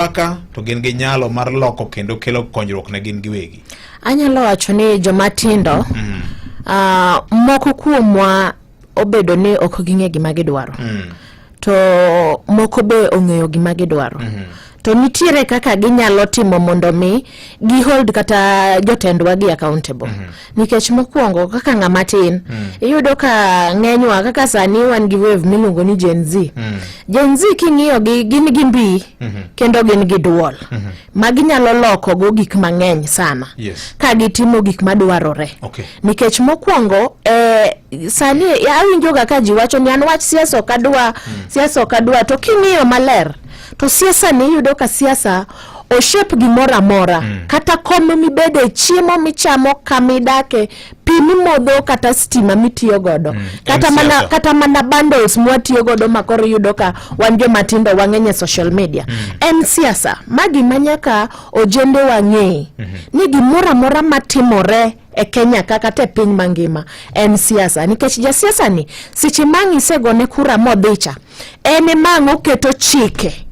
aka to gin gi nyalo mar loko kendo kelo konyruok ne gin giwegi. Anyalo wacho ni joma tindo mm. uh, moko kuomwa obedo ni ok ging'e gima gidwaro mm. to moko be ong'eyo gima gidwaro mm -hmm. to nitiere kaka ginyalo timo mondo mi gi hold kata jotendwa gi accountable mm -hmm. nikech mokwongo kaka ng'ama tin mm. iyudo ka ng'enywa kaka sani wan gi wave miluongo ni Gen Z mm. Gen Z king'iyo gi gin gi mbi mm -hmm. kendo gin gi duol mm -hmm. ma ginyalo loko go gik mang'eny sana yes. ka gitimo gik madwarore okay. nikech mokwongo eh, sani awinjoga ka ji wacho ni an wach siasa ok adwa mm. siasa ok adwa to king'iyo maler to siasa ni iyudo ka siasa oshep gimoro amora mm. kata kom mibede chiemo michamo kamidake pi mimodho kata stima mitiyo godo mm. kata, mana, kata mana bundles mwatiyo godo makoro iyudo ka wan joma tindo wang'eny e social media mm. en siasa ma gima nyaka ojende wang'e mm -hmm. ni gimoro amora matimore e Kenya ka kata e piny mangima en siasa nikech jasiasa ni seche mang'isegone kura modhicha en emang' oketo chike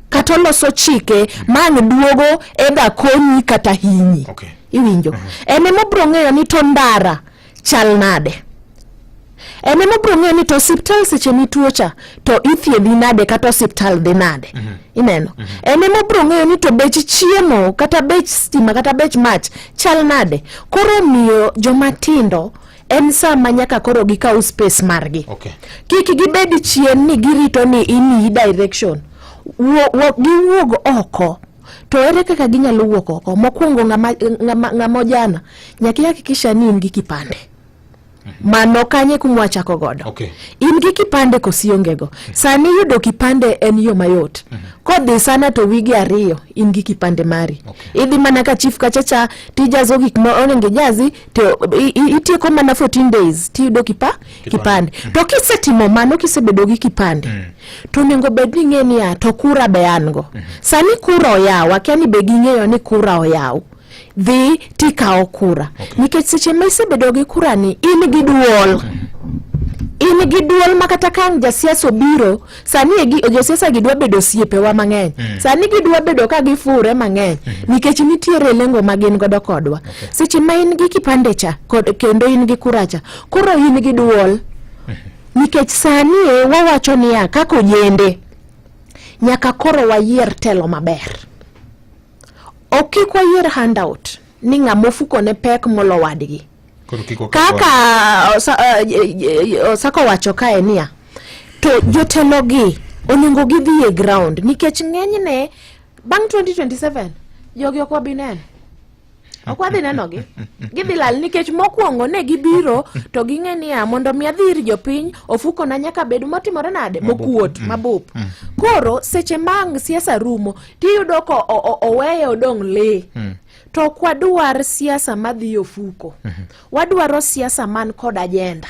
kata oloso chike ma ang' duogo edha konyi kata hinyi Okay. iwinjo uh -huh. en ema obiro ng'eyo ni to ndara chal nade en ema obiro ng'eyo ni to osiptal seche mituo cha to ithiedhi nade kata osiptal dhi nade uh mhm. -huh. ineno uh mhm. -huh. en ema obiro ng'eyo ni to bech chiemo kata bech stima kata bech mach chal nade koro miyo joma tindo en saa ma nyaka koro gikaw space margi okay. kik gibed chien ni girito ni imiyi direction giwuog oko to ere kaka ginyalo wuok oko mokwongo ng'ama ojana nyaka ihakikisha ni in gi kipande mhm. mano kanye kuma wachako godo okay. in gi kipande kosiongego mhm. sani yudo kipande en yo mayot mhm. kodhi sana to wigi ariyo in gi kipande mari okay. idhi mana ka chief kachacha tijazo gik ma onenge jazi to itieko mana 14 days tiyudo kipa kipande mm. to kisetimo mano kisebedo gi kipande mm. to onego bed ni ng'e niya to kura be an go mm. sani kura oyaw akia ni be ging'eyo ni kura oyaw dhi tikawo kura okay. nikech seche ma isebedo gi kurani in gi duol mm. in gi duol ma kata ka jasiasa obiro sani josiasagi dwa bedo osiepewa mang'eny mm. sani gidwa bedo ka gifure mang'eny mm. nikech nitiere lengo ma gin godo kodwa okay. seche ma in gi kipande cha kod, kendo in gi kura cha koro in gi duol mm. nikech sani e wawacho niya kaka ojende nyaka koro wayier telo maber ok kik wayier handout ni ng'ama ofukone pek molo wadgi kaka Osako wacho kae niya to jotelogi onego gidhi e ground nikech ng'enyne bang' 2027 jogi ok wabi neno ok wadhi nenogi gidhi lal nikech mokwongo ne gibiro to ging'e niya mondo mi adhi ir jopiny ofukona nyaka bed motimore nade mokuot mm. mabup mm. koro seche mang siasa rumo tiyudo ko oweyo odong' lee mm. to ok wadwar siasa madhi ofuko mm -hmm. wadwaro siasa man kod ajenda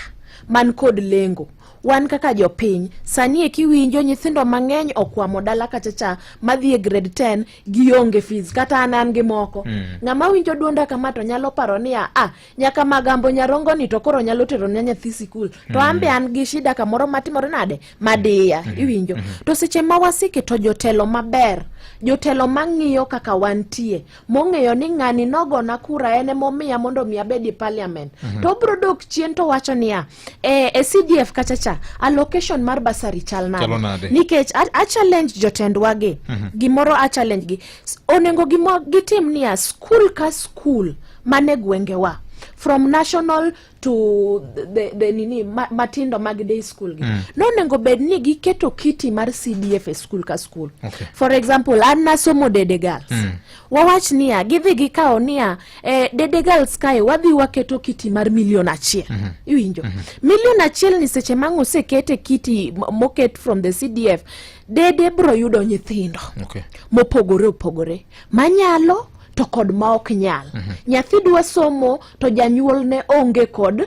man kod lengo wan kaka jopiny sani e kiwinjo nyithindo mang'eny okwamo dala kachacha madhi e grade 10 gionge fees kata an an gi moko mm. ng'ama winjo duonda kama to nyalo paro niya a ah, nyaka magambo nyarongo ni to koro nyalo tero ne nyathi sikul to an be an gi shida kamoro matimore nade madiya iwinjo to seche ma wasike to jotelo maber jotelo mang'iyo kaka wantie mong'eyo ni ng'ani nogona kura en emomiya mondo mi abed e parliament to obro dok chien to wacho niya e, e cdf kachacha allocation mar basari chal Chalo nade nade? nikech a, a challenge jotendwa gi gimoro a challenge gi S- onego gimo gitim niya skul ka skul mane gwengewa from national to the, the nini ma, matindo mag day school gi mm. nonego bed ni giketo kiti mar cdf e skul ka skul okay. for example an nasomo dede girls mm. wawach niya gidhi gikawo niya eh, dede girls kae wadhi waketo kiti mar milion achiel mm -hmm. iwinjo mm -hmm. milion achiel ni seche mang' osekete kiti moket from the cdf dede bro yudo nyithindo okay. mopogore opogore manyalo to kod ma ok nyal mm -hmm. nyathi dwa somo to janyuol ne onge kod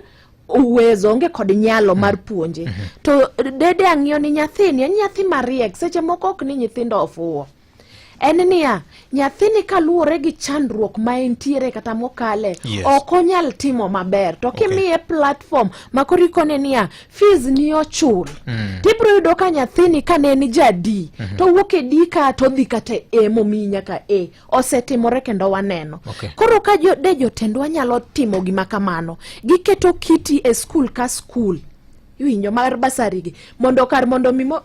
uwezo onge kod nyalo mar mm-hmm. puonje mm -hmm. to dede ang'iyo ni nyathini en nyathi mariek seche moko ok ni nyithindo ofuwo en niya nyathini kaluwore gi chandruok ma entiere kata mokale yes. ok onyal timo maber to kimiye okay. platform ma koro ikone niya fees ni ochul mm. tibro yudo ka nyathini kane ni jadi mm -hmm. to wuok e dika to dhi kata e momiyi nyaka e osetimore kendo waneno okay. Koro ka jo, de jotendwa nyalo timo gima kamano, giketo kiti e skul ka skul iwinjo mar basarigi mondo kar mondo mimo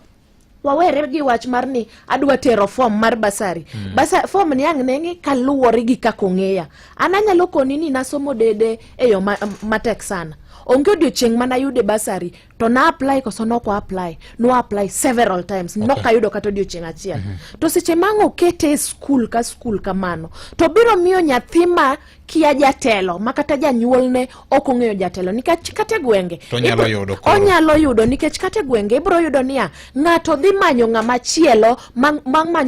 wawere gi wach mar ni adwa tero fom mar basari mm. Basa, fom ni ang' neng'i kaluwore gi kaka ong'eya an anyalo koni ni nasomo dede e yo matek ma sana onge odiochieng' mana yude basari to na apply koso nok wa apply no apply several times okay. nok ayudo kata odiochieng' achiel mm -hmm. to seche mang'o kete e skul ka skul kamano to biro miyo nyathi ma kia jatelo ma kata janyuolne ok ong'eyo jatelo nikech kata e gwenge onyalo yudo nikech kata e gwenge ibiro yudo niya ng'ato dhi manyo ng'ama chielo ma, ma, ma